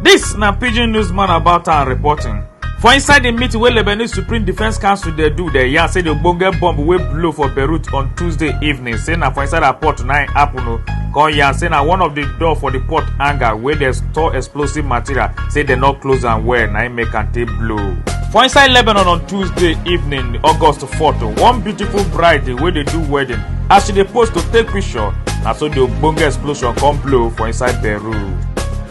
This na pidgin newsman about our reporting for inside di meeting wey lebanese supreme defence council dey do dem yarn say di ogbonge bomb wey blow for beirut on tuesday evening say na for inside her port na im happen o come yarn say na one of di door for di port hangar wey dey store explosive material say dem no close am well na im make am take blow for inside lebanon on tuesday evening august photo one beautiful bride wey dey do wedding as she dey pose to take picture na so di ogbonge explosion come blow for inside peru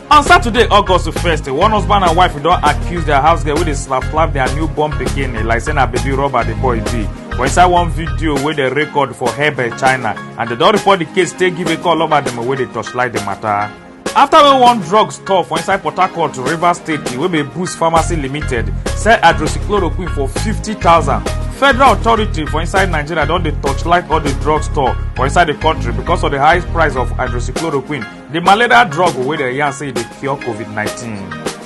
on saturday august 1st one husband and wife don accuse dia house girl wey dey slap slap dia newborn pikin like say na baby rubber di boy be for inside one video wey dem record for hebei china and dem don report di case take give a call lover dem wey dey torchlight di matter afta wey one drug store for inside port harcourt rivers state wey be boost pharmacy limited sell hydroxychloroquine for 50000 federal authority for inside nigeria don dey torchlight all di drug store for inside di country because of di high price of hydroxychloroquine di malaria drug wey dem yarn say e dey cure covid-19.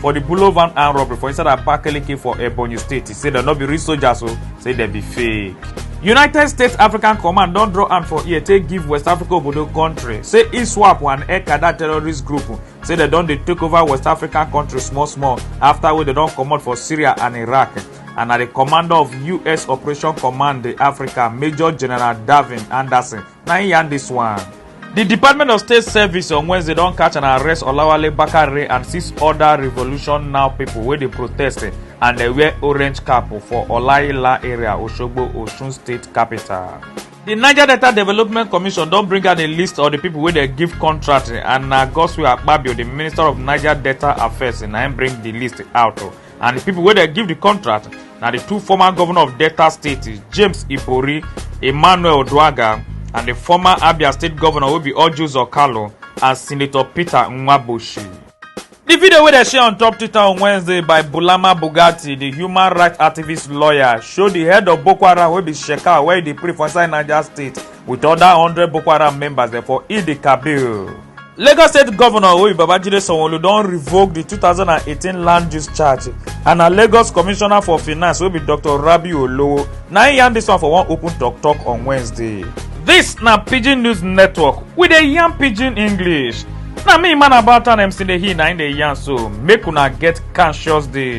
for di bullet van armed robbery for inside abakaliki for ebonyi state e say dem no be real soldiers o say dem be fake. united states african command don draw hand for ear take give west africa obodo kontri say iswap and ekada terrorist group say dem don dey take over west african kontri small small afta wey dem don comot for syria and iraq and na di commander of us operation command africa major general davin anderson na im yarn dis one. di department of state service on wednesday don catch and arrest olawale bakare and six oda revolution now pipo wey dey protest eh, and dey wear orange cap for olaila area osogbo osun state capital. di niger delta development commission don bring out a list of di pipo wey dey give contract eh, and na godswill akpabio di minister of niger delta affairs eh, na im bring di list out. and di pipo wey dem give di contract na di two former govnor of delta state james ibori emmanuel oduaga and di former abia state govnor wey be ojus okalo and senator peter nwaboshi di video wey dem share on top twitter on wednesday by bulama bugatti di human rights activist lawyer show di head of boko haram wey be shekau wey dey pray for inside niger state with oda hundred boko haram members dem for idi kabir. lagos state governor oyi babajide sanwo-olu don revoke di 2018 land use charge and na lagos commissioner for finance wey be dr rabi olowo na im yarn dis one for one open tok tok on wednesday. dis na pidgin news network we dey yarn pidgin english na me man about town mc dey hear na im dey yarn so make una get conscious day.